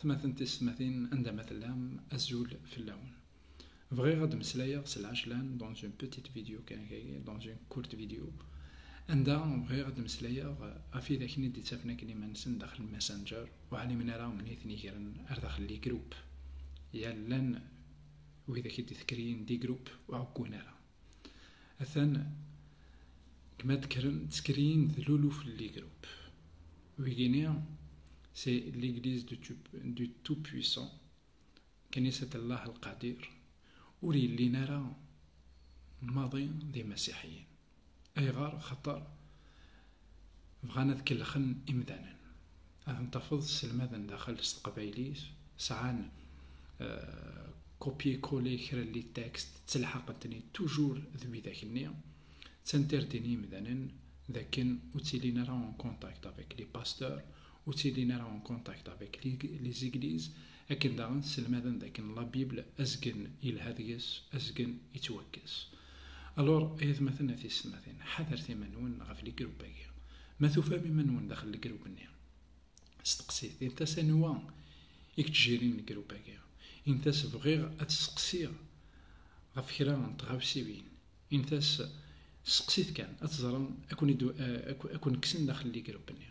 atmaten tisetmatin anda ma tellam azul fell-awen bɣiɣ ad d-meslayeɣ s lɛejlan dans une petite vidéo kan kagi dans une courte vidéo anda bɣiɣ ad d-meslayeɣ ɣef idaken i d-ittafen akken iman-nsen daxel messenger ur ɛlimen ara mni ten-igren ar daxel li groupe yal llan widak i d-itekriyen di groupe ur ɛeggun ara Atan kma tkren tskriyin d luluf n ligrup. Wigini, c'est l'église du tout puissant, knisat Allah al Qadir, ur yellin ara maḍi d imasiḥiyen. Ayɣer? Xaṭer Bɣan ad kellxen imdanen. Ad n-tafeḍ sselmaden daxel s teqbaylit, sɛan kopye kole kra n litekst, ttelḥaqen-ten-id tujur d widak-nni. Ttanterdin yimdanen d akken ur ttilin ara en contact avec les pasteurs, ur ttilin ara en contact avec les églises, Akken daɣen sselmaden dakken la Bible azgen yelha deg-s, azgen yettwakkes. Alor, ay atmaten a tiyessetmatin, ḥadret iman-nwen ɣef ligroup-agi. Ma tufam iman-nwen daxel ligroup-nni, steqsit, init-as anwa i yettjirin ligroup-agi. Init-as bɣiɣ ad t-sseqsiɣ ɣef kra n tɣawsiwin. Init-as sseqsit kan, ad teẓrem ad ken-kksen daxel ligroup-nni.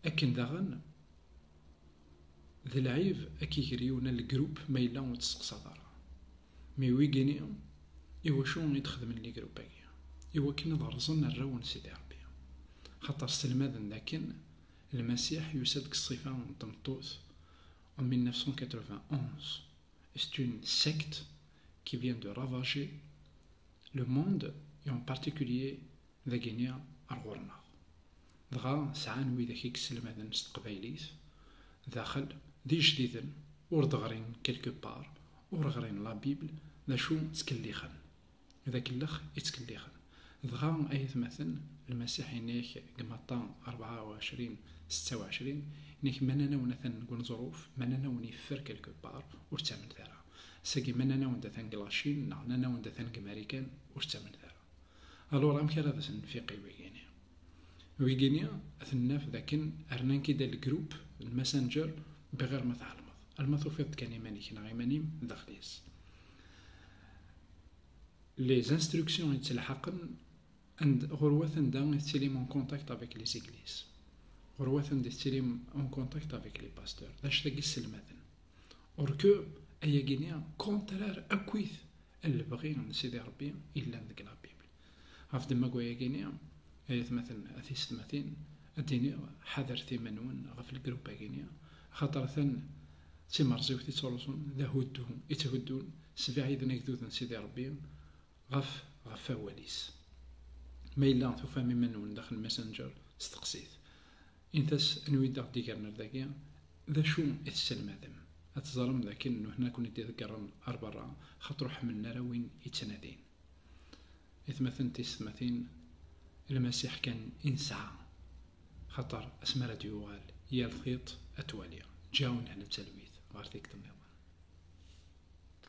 Akken daɣen d lɛib ad k-iger yiwen l-group ma yella ur tesseqsaḍ ara. Mi wigini, iwacu i d-xedmen ligroup-agi? Iwakken ad rẓen arraw n Sidi Rebbi. Xaṭer sselmaden dakken Lmasiḥ yusa-d deg ṣṣifa n tmeṭṭut en 1991. C'est une secte qui vient de ravager le monde et en particulier dagi-nni ar ɣur-neɣ, dɣa sɛan widak i yesselmaden s teqbaylit daxel d ijdiden ur d-ɣrin quelque part, ur ɣrin la Bible, d acu ttkellixen, d akellex i ttkellixen, dɣa ay atmaten, Lmasiḥ yenna-ak deg Matta rebɛa u ɛecrin setta u ɛecrin, yenna-ak ma nnan-awen atan deg uneẓruf, ma nnan-awen yeffer quelque part, ur ttamenet ara, sagi ma nnan-awen-d atan deg Lacin neɣ nnan-awen-d atan deg Marikan, ur ttamnet ara. Alura amek ara d as-nfiq i wigini? Wigini ad ten-naf d akken rnan-k-id al-grup, l-messenger, biɣir ma tɛelmeḍ. Alma tufiḍ-d kan iman-ik neɣ iman-im daxel-is. Les instructions i ttelḥaqen ɣur wat anda i tettilim en contact avec les églises. Ɣur wat anda i tettilim en contact avec les pasteurs. D acu-tagi sselmaden. Or que ayagini contraire akkit Lebɣi n Sidi Ṛebbi yellan deg La Bible. Ɣef ddemma wayagi-ni, ay atmaten a tiysetmatin, ad d-iniɣ, ḥadret iman-nwen ɣef lgrup-agi-ni, axaṭer atan d timerẓiwt i ttruẓun, d ahuddu i tthuddun, sbiɛiden agdud n Sidi Ṛebbi ɣef ɣef wawal-is. Ma yella tufam iman-nwen daxel Messenger, steqsit. Init-as anwa i d-aɣ-d-igren ar dagi, d acu i tesselmadem. Ad teẓrem d akken nuḥna ad ken-id iḍeggren ar berra, xaṭer ur ḥemmlen ara win i ttnadin. Aytmaten tiysetmatin, Lmasiḥ kan i nesɛa, xaṭer asmi ara d-yuɣal, yal tiṭ ad twali. Ǧǧiɣ-awen-d netta talwit ɣer tikkelt nniḍen.